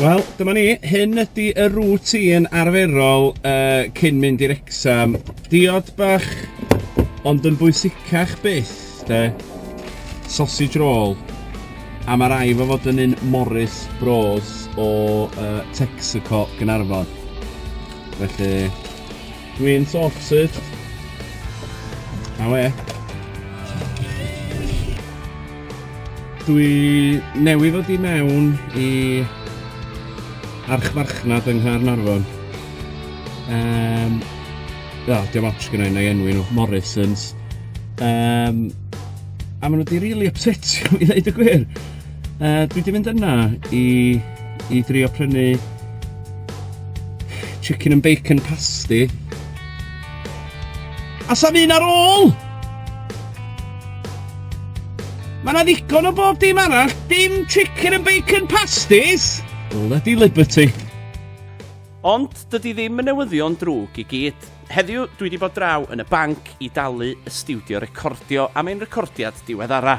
Wel, dyma ni. Hyn ydy y routine arferol uh, cyn mynd i'r exam. Diod bach, ond yn bwysicach byth, de. Sausage roll. A mae rai fo fod yn un Morris Bros o uh, Texaco Gynarfon. Felly, Dwi'n sorted. A we? Dwi newydd ddod i mewn i archfarchnad yng Nghaernarfon. Um, o, diolch ots gyda na i enwi nhw, Morrisons. Um, a maen nhw wedi really upsetio i ddeud y gwir. Uh, dwi wedi mynd yna i, i drio prynu chicken and bacon pasty. A sa'n un ar ôl! Mae yna ddigon o bob dim arall, dim chicken and bacon pasties! Bloody Liberty! Ond dydy ddim yn newyddion drwg i gyd. Heddiw, dwi wedi bod draw yn y banc i dalu y studio recordio am ein recordiad diweddara.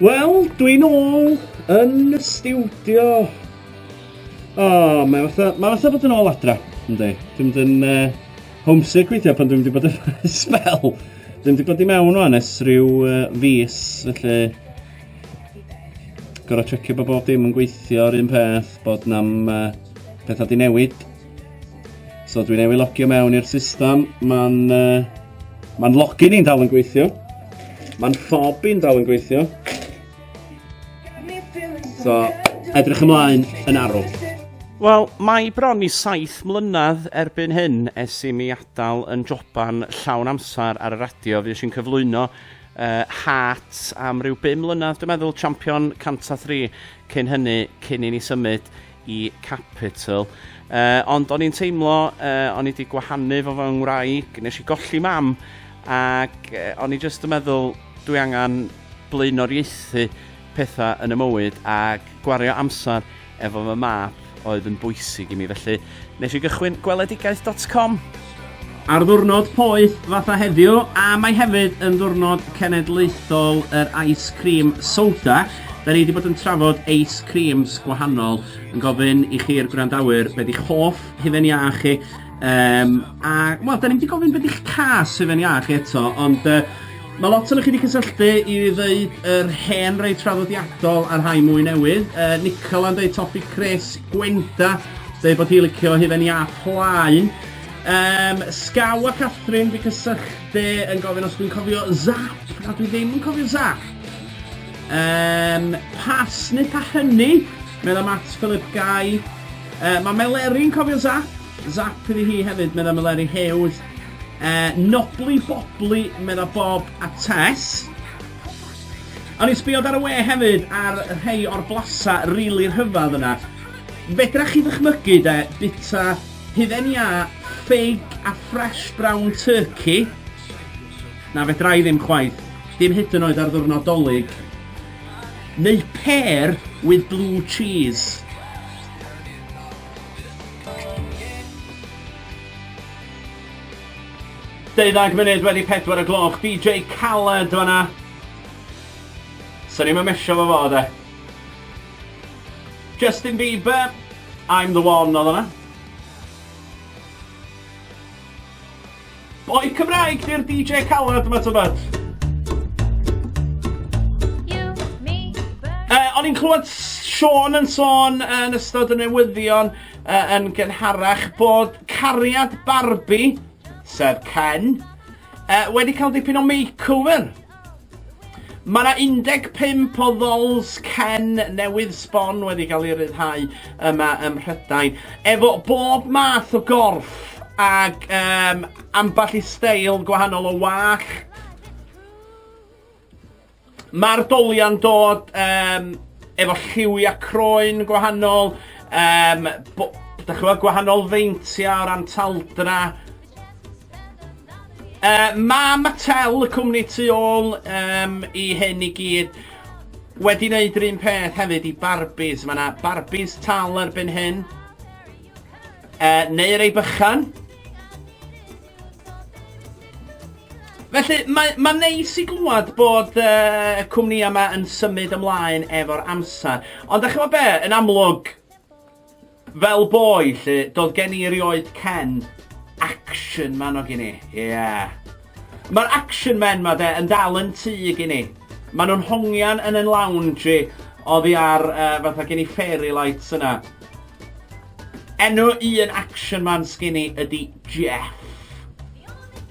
Wel, dwi'n ôl yn y stiwdio. O, oh, mae fatha, mae fatha bod yn ôl adra, ynddi. Dwi'n mynd yn uh, homesick weithio pan dwi'n mynd i bod yn spel. Dwi'n mynd i bod i mewn o'n es rhyw uh, fus, felly gorau checio bod bob dim yn gweithio yr un peth, bod nam uh, pethau di newid. So dwi'n ei logio mewn i'r system, mae'n uh, ma login i'n dal yn gweithio, mae'n ffob i'n dal yn gweithio. So, edrych ymlaen yn arw. Wel, mae bron i saith mlynedd erbyn hyn es i mi adael yn joban llawn amser ar y radio. Fi eisiau'n cyflwyno uh, Heart am ryw bum mlynedd, dwi'n meddwl, champion 103 cyn hynny, cyn i ni symud y Capitol. Uh, ond o'n i'n teimlo, uh, o'n i wedi gwahanu fo fy ngwraig, nes i golli mam, ac uh, o'n i jyst yn meddwl, dwi angen blaenoriaethu pethau yn y mywyd ac gwario amser efo fy map oedd yn bwysig i mi. Felly, nes i gychwyn gweledigaeth.com. Ar ddiwrnod poeth fatha heddiw, a mae hefyd yn ddiwrnod cenedlaethol yr ice cream soda, da ni wedi bod yn trafod ice creams gwahanol, yn gofyn i chi'r gwrandawyr beth eich hoff hufen iâ chi, um, a, wel, da ni wedi gofyn beth eich cas hufen iâ chi eto, ond uh, Mae lot ohonoch chi wedi cysylltu i ddeud yr hen rei traddodiadol a'r rhai mwy newydd. Uh, Nicola yn deud topi Chris, Gwenda, deud bod hi licio hufen ia plaen. Um, Scaw a Catherine fi cysylltu yn gofyn os dwi'n cofio Zap, na dwi ddim yn cofio Zap. Um, pas neu pa hynny, meddwl Matt Philip Guy. Uh, mae Meleri'n cofio Zap, Zap iddi hi hefyd, medda Meleri Hughes. Uh, nobly bobly, medda Bob a Tess. O'n i'n sbio ar y we hefyd ar rhai o'r blasa rili really rhyfedd yna. Fedra chi ddychmygu de, bita hydden ia, ffig a fresh brown turkey. Na, fedra i ddim chwaith. Dim hyd yn oed ar ddwrnod dolyg. Neu pear with blue cheese. Deuddag munud wedi pedwar y gloch, DJ Khaled fanna. Swn i'n mysio fo fod e. Justin Bieber, I'm the one oedd hwnna. Boi Cymraeg di'r DJ calad yma tybad. Uh, o'n i'n clywed Sean yn sôn uh, yn ystod y newyddion uh, yn gynharach bod cariad Barbie, sef Ken, uh, wedi cael dipyn o makeover. Mae yna 15 o ddols cen newydd sbon wedi cael ei ryddhau yma ym Mhrydain, efo bob math o gorff ac um, ambell i steil gwahanol o wach. Mae'r doliau'n dod um, efo lliwiau croen gwahanol, um, bo, da chi'n gwahanol feintiau o ran taldra, Uh, mae Mattel, y cwmni tu ôl um, i hyn i gyd, wedi wneud yr un peth hefyd i Barbies. Mae yna Barbies tal erbyn hyn. Uh, neu rei bychan. Felly, mae, mae neis i glwad bod uh, y cwmni yma yn symud ymlaen efo'r amser. Ond da chi'n be, yn amlwg, Fel boi 'lly, do'dd gen i erioed cen action man ogyn i, ie. Ma'r action men 'ma 'de yn dal yn tŷ gin i. Ma' nhw'n hongian yn 'yn lounge i oddi ar yy fatha gen i fairy lights yna. Enw un action man sgin i ydi Jeff.